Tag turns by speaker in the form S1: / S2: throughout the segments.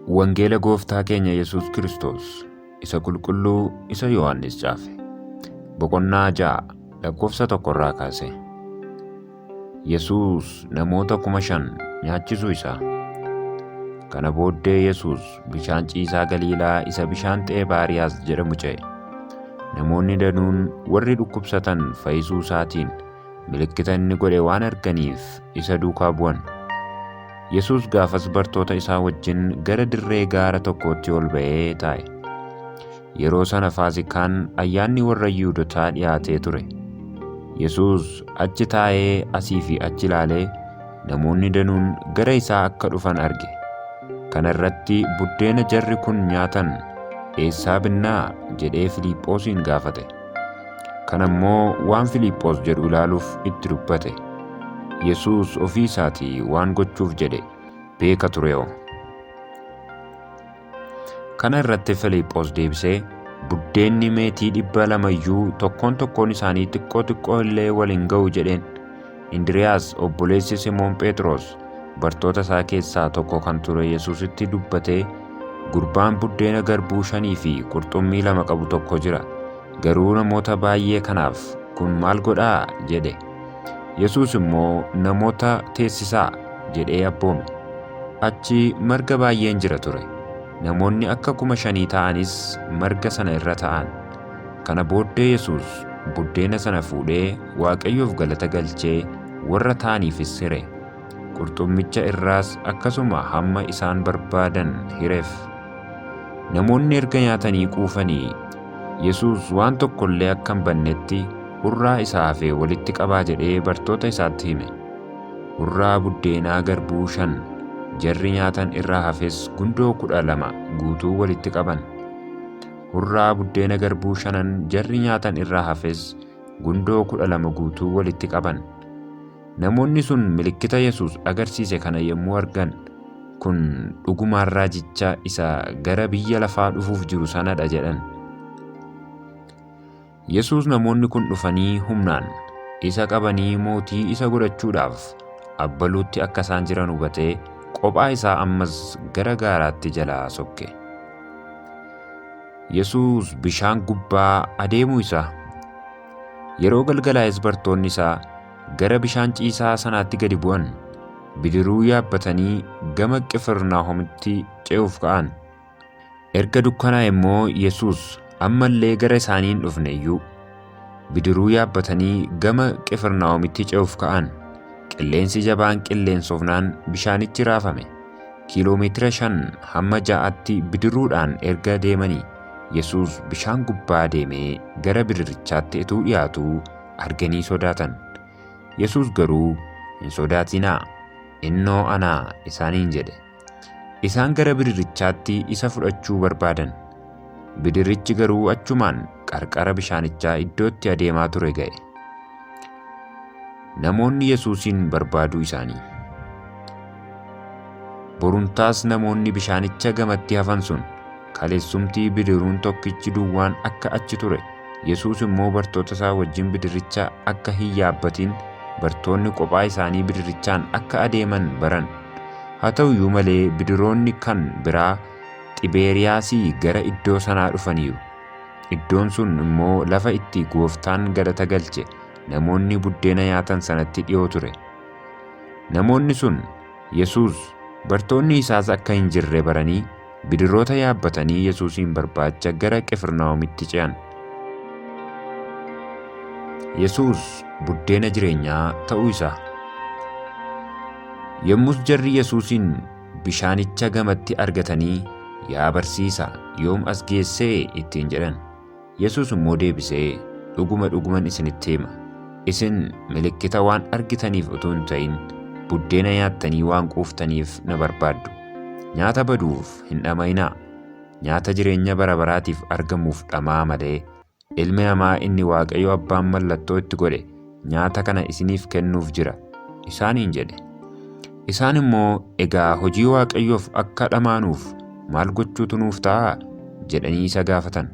S1: Wangeela Gooftaa keenya Yesuus Kiristoos isa qulqulluu isa Yohaannis caafe. Boqonnaa ja'a lakkoofsa tokkorraa kaase. Yesuus namoota kuma shan nyaachisuu isaa. Kana booddee Yesuus bishaan ciisaa Galiilaa isa bishaan Xeebaariyaas jedhamu ce'e. Namoonni danuun warri dhukkubsatan fayyisuu isaatiin milikkita inni godhe waan arganiif isa duukaa bu'an. Yesuus gaafas bartoota isaa wajjin gara dirree gaara tokkootti ol ba'ee taa'e. Yeroo sana Faasikaan ayyaanni warra Yihuudotaa dhihaatee ture. Yesuus achi taa'ee asii fi achi ilaalee namoonni danuun gara isaa akka dhufan arge. Kana irratti buddeena jarri kun nyaatan eessaa binnaa? jedhee Filiiphoosiin gaafate. Kana immoo waan Filiiphoos jedhu ilaaluuf itti dubbate. Yesuus ofii isaatii waan gochuuf jedhe beeka tureoo. Kana irratti Filiiphoos deebisee, Buddeenni meetii dhibba lama iyyuu tokkoon tokkoon isaanii xiqqoo xiqqoo illee wal hin ga'u jedheen. Indiriyaas obboleessi Simoon Phexros bartoota isaa keessaa tokko kan ture Yesuusitti dubbatee, Gurbaan buddeena garbuu shanii fi qurxummii lama qabu tokko jira. Garuu namoota baay'ee kanaaf, Kun maal godhaa? jedhe. Yesuus immoo, Namoota teessisaa! jedhee abboome. Achi marga baay'een jira ture. Namoonni akka kuma shanii ta'anis marga sana irra ta'an. Kana booddee Yesuus buddeena sana fuudhee Waaqayyoof galata galchee warra ta'aniifis hire. Qurxummicha irraas akkasuma hamma isaan barbaadan hiref. Namoonni erga nyaatanii quufanii, Yesuus waan tokko illee akka hin bannetti hurraa isa hafe walitti qabaa jedhee bartoota isaatti hime. Hurraa buddeenaa garbuu shan jarri nyaatan irraa hafes gundoo kudha lama guutuu walitti qaban. Hurraa buddeena garbuu shanan jarri nyaatan irraa hafes gundoo kudha lama guutuu walitti qaban. Namoonni sun milikkita Yesuus agarsiise kana yommuu argan, Kun dhugumaan raajicha isa gara biyya lafaa dhufuuf jiru sana dha jedhan. Yesuus namoonni kun dhufanii humnaan isa qabanii mootii isa godhachuudhaaf abbaluutti akka isaan jiran hubatee qophaa isaa ammas gara gaaraatti jalaa sokke. Yesuus bishaan gubbaa adeemuu isaa Yeroo galgalaa'es bartoonni isaa gara bishaan ciisaa sanaatti gadi bu'an, bidiruu yaabbatanii gama Qifirnaahomitti ce'uuf ka'an. Erga dukkanaa'e immoo Yesuus amma illee gara isaanii hin dhufne iyyuu. Bidiruu yaabbatanii gama Qifirnaahomitti ce'uuf ka'an. Qilleensi jabaan qilleensofnaan bishaanichi raafame. Kiiloo meetira shan hamma ja'atti bidiruudhaan erga deemanii. Yesuus bishaan gubbaa deemee gara bidirrichaatti utuu dhiyaatuu arganii sodaatan. Yesuus garuu, Hin sodaatinaa, innoo anaa isaaniin jedhe. Isaan gara bidirrichaatti isa fudhachuu barbaadan. Bidirrichi garuu achumaan qarqara bishaanichaa iddootti adeemaa ture ga'e. Namoonni Yesuusiin barbaaduu isaanii. Borumtaas namoonni bishaanicha gamatti hafan sun kaleessumtii bidiruun tokkichi duwwaan akka achi ture, Yesuus immoo bartoota isaa wajjin bidiricha akka hin yaabbatiin bartoonni qophaa isaanii bidirichaan akka adeeman baran. Haa ta'u iyyuu malee bidiroonni kan biraa Xibeeriyaasii gara iddoo sanaa dhufaniiru. Iddoon sun immoo lafa itti Gooftaan galata galche namoonni buddeena nyaatan sanatti dhiyoo ture. Namoonni sun Yesuus, bartoonni isaas akka hin jirre baranii bidiroota yaabbatanii Yesuusiin barbaacha gara Qifirnaahomitti ce'an. Yesuus buddeena jireenyaa ta'uu isaa. Yommus jarri Yesuusiin Bishaanicha gamatti argatanii, Yaa barsiisa, yoom as geesse? ittiin jedhan. Yesuus immoo deebisee, Dhuguma dhuguman isinitti hima, isin milikkita waan argitaniif utuu hin ta'in, buddeena nyaattanii waan quuftaniif na barbaaddu. Nyaata baduuf hin dhama'inaa, nyaata jireenya bara baraatiif argamuuf dhama'aa malee, Ilmi namaa inni Waaqayyo abbaan mallattoo itti godhe nyaata kana isiniif kennuuf jira isaaniin jedhe. Isaan immoo egaa hojii Waaqayyoof akka dhamaanuuf maal gochuutu nuuf ta'a? jedhanii isa gaafatan.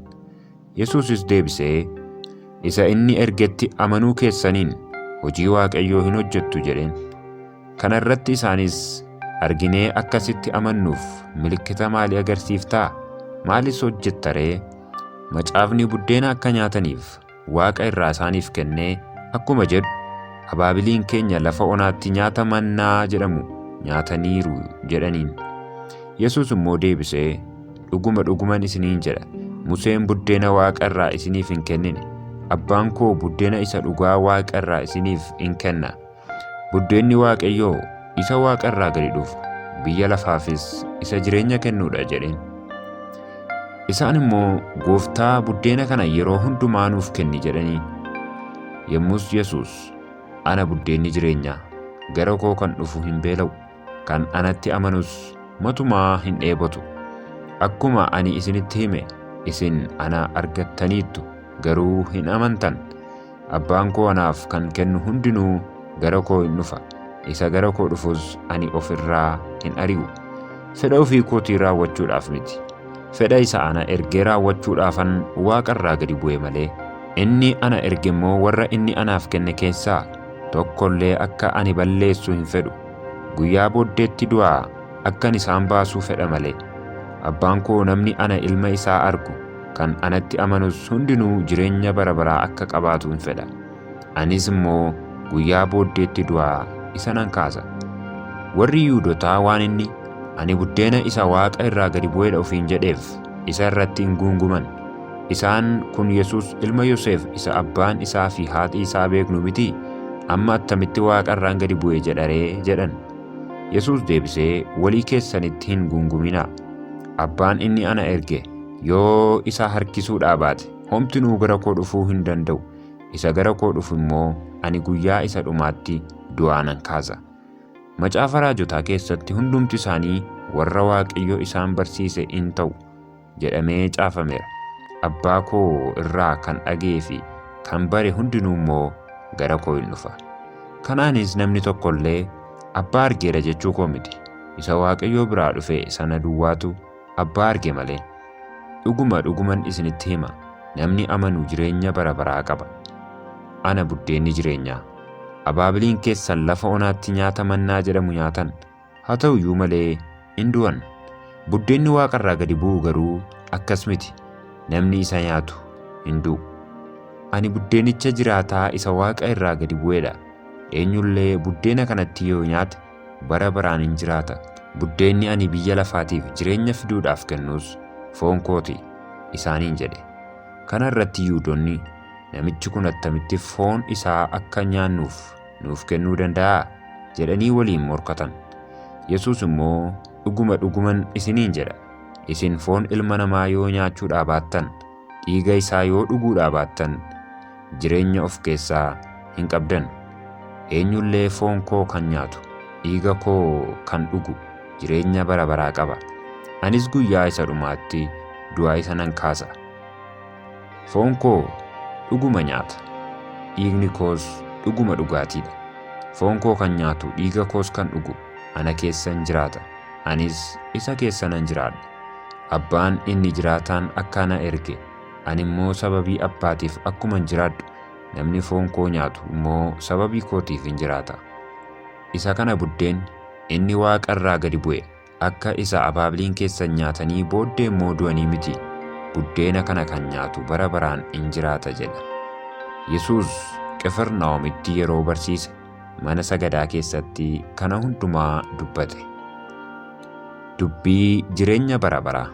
S1: Yesuusis deebisee, Isa inni ergetti amanuu keessaniin hojii Waaqayyoo hin hojjettu jedheen. Kana irratti isaanis, Arginee akka sitti amannuuf milikkita maalii agarsiiftaa? Maalis hojjetta ree? Macaafni buddeena akka nyaataniif waaqa irraa isaaniif kennee akkuma jedhu, Abaabiliin keenya lafa onaatti nyaata mannaa jedhamu nyaataniiru jedhaniin. Yesuus immoo deebisee, Dhuguma dhuguman isiniin jedha, Museen buddeena waaqa irraa isiniif hin kennine, Abbaan koo buddeena isa dhugaa waaqa irraa isiniif in kenna. Buddeenni Waaqayyoo isa waaqa irraa gadi dhufu, biyya lafaafis isa jireenya kennuudha jedheen. Isaan immoo Gooftaa buddeena kana yeroo hundumaa nuuf kenni jedhaniin. Yommus Yesuus ana buddeenni jireenyaa gara koo kan dhufu hin beela'u, kan anatti amanus matumaa hin dheebotu. Akkuma ani isinitti hime isin ana argattaniittu garuu hin amantan. Abbaan koo anaaf kan kennu hundinuu gara koo in dhufa, isa gara koo dhufus ani of irraa hin ari'u. Fedha ofii kootii raawwachuudhaaf miti, fedha isa ana ergee raawwachuudhaafan waaqa irraa gadi bu'e malee. Inni ana erge immoo warra inni anaaf kenne keessaa tokko illee akka ani balleessu hin fedhu, guyyaa booddeetti du'aa akkan isaan baasuu fedha malee. Abbaan koo namni ana ilma isaa argu Kan anatti amanus hundinuu jireenya bara baraa akka qabaatuun fedha. Anis immoo guyyaa booddeetti du'aa isa nan kaasa. Warri Yihuudotaa waan inni, Ani buddeena isa waaqa irraa gadi bu'edha ofiin jedheef isa irratti in guunguman. Isaan, Kun Yesus ilma Yoseef isa abbaan isaa fi haati isaa beeknu mitii? Amma attamitti waaqa irraan gadi bu'e jedha ree? jedhan. Yesus deebisee, Walii keessanitti hin guunguminaa. Abbaan inni ana erge Yoo isa harkisuu dhaabaate, homtinuu gara koo dhufuu hin danda'u. Isa gara koo dhufu immoo ani guyyaa isa dhumaatti du'aa nan kaasa. Macaafa raajotaa keessatti hundumti isaanii warra Waaqayyo isaan barsiise in ta'u jedhamee caafameera. Abbaa koo irraa kan dhaga'ee fi kan bare hundinuu immoo gara koo in dhufa. Kanaanis namni tokko illee abbaa argeera jechuu koo miti. Isa Waaqayyoo biraa dhufe sana duwwaatu Abbaa arge malee. Dhuguma dhuguman isinitti hima, namni amanu jireenya bara baraa qaba. Ana buddeenni jireenyaa. Abaabiliin keessan lafa onaatti nyaata mannaa jedhamu nyaatan, haa ta'u iyyuu malee in du'an. Buddeenni waaqa irraa gadi bu'u garuu akkas miti, namni isa nyaatu hin du'u. Ani buddeenicha jiraataa isa waaqa irraa gadi bu'edha. Eenyullee buddeena kanatti yoo nyaate bara baraan in jiraata. Buddeenni ani biyya lafaatiif jireenya fiduudhaaf kennus foon koo ti isaaniin jedhe. Kana irratti Yihuudonni, Namichi kun attamitti foon isaa akka nyaannuuf nuuf kennuu danda'a? jedhanii waliin morkatan. Yesuus immoo, Dhuguma dhuguman isiniin jedha, isin foon Ilma Namaa yoo nyaachuudhaa baattan, Dhiiga isaa yoo dhuguudhaa baattan, jireenya of keessaa hin qabdan. Eenyu illee foon koo kan nyaatu, dhiiga koo kan dhugu jireenya bara baraa qaba, anis guyyaa isa dhumaatti du'aa isa nan kaasa. Foon koo dhuguma nyaata, dhiigni koos dhuguma dhugaatii dha. Foon koo kan nyaatu, dhiiga koos kan dhugu ana keessa in jiraata, anis isa keessa nan jiraadha. Abbaan inni jiraataan akka ana erge, ani immoo sababii Abbaatiif akkuman jiraadhu, namni foon koo nyaatu immoo sababii kootiif in jiraata. Isa kana buddeenni inni waaqa irraa gadi bu'e akka isa abaabliin keessan nyaatanii booddee immoo du'anii miti, buddeena kana kan nyaatu bara baraan in jiraata jedha. Yesuus Qifirnaahomitti yeroo barsiise. mana sagadaa keessatti kana hundumaa dubbate. Dubbii jireenya bara baraa.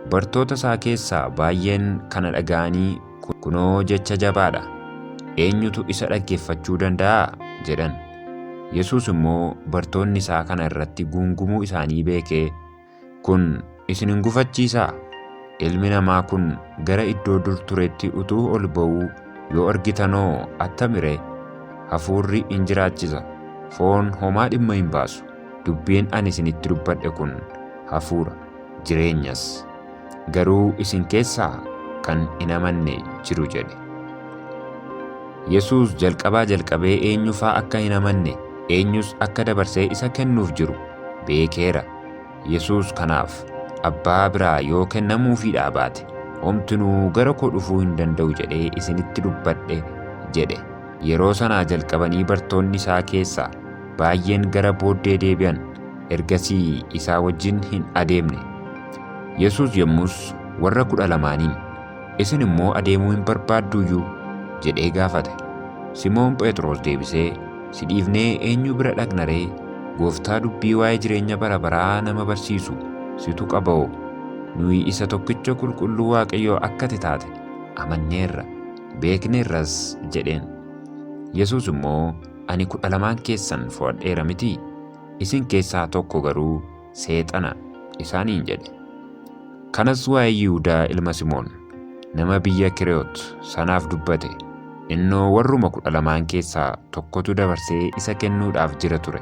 S1: Bartoota isaa keessaa baay'een kana dhaga'anii kunoo jecha jabaadha. Eenyutu isa dhaggeeffachuu danda'a? jedhan. Yesuus immoo bartoonni isaa kana irratti guungumuu isaanii beekee Kun isin hin gufachiisaa? Ilmi namaa kun gara iddoo dur turetti utuu ol ba'uu yoo argitanoo attami ree? Hafuurri in jiraachisa, foon homaa dhimma hin baasu. Dubbiin ani isinitti dubbadhe kun hafuura, jireenyas. Garuu isin keessaa kan hin amanne jiru jedhe. Yesuus jalqabaa jalqabee eenyufaa akka hin amanne, eenyus akka dabarsee isa kennuuf jiru beekeera. Yesuus kanaaf abbaa biraa yoo kennamuufiidhaa baate homtinuu gara koo dhufuu hin danda'u jedhee isinitti dubbadhe jedhe. Yeroo sanaa jalqabanii bartoonni isaa keessaa baay'een gara booddee deebi'an, ergasii isaa wajjin hin adeemne. Yesuus yommus warra kudha lamaaniin, Isin immoo adeemuu hin barbaadduuyyuu? jedhee gaafate. Simoon Phexros deebisee, Si dhiifnee eenyu bira dhaqna ree? Gooftaa dubbii waa'ee jireenya bara baraa nama barsiisu situ qaba'oo. Nuyi isa tokkicha qulqulluu Waaqayyoo akka ati taate amanneerra, beekneerras jedheen. Yesuus immoo, Ani kudha lamaan keessan fo'adheera mitii? Isin keessaa tokko garuu seexana isaaniin jedhe. Kanas waa'ee Yihudaa ilma Simoon nama biyya Kireyoot sanaaf dubbate, innoo warruma kudha lamaan keessaa tokkotu dabarsee isa kennuudhaaf jira ture.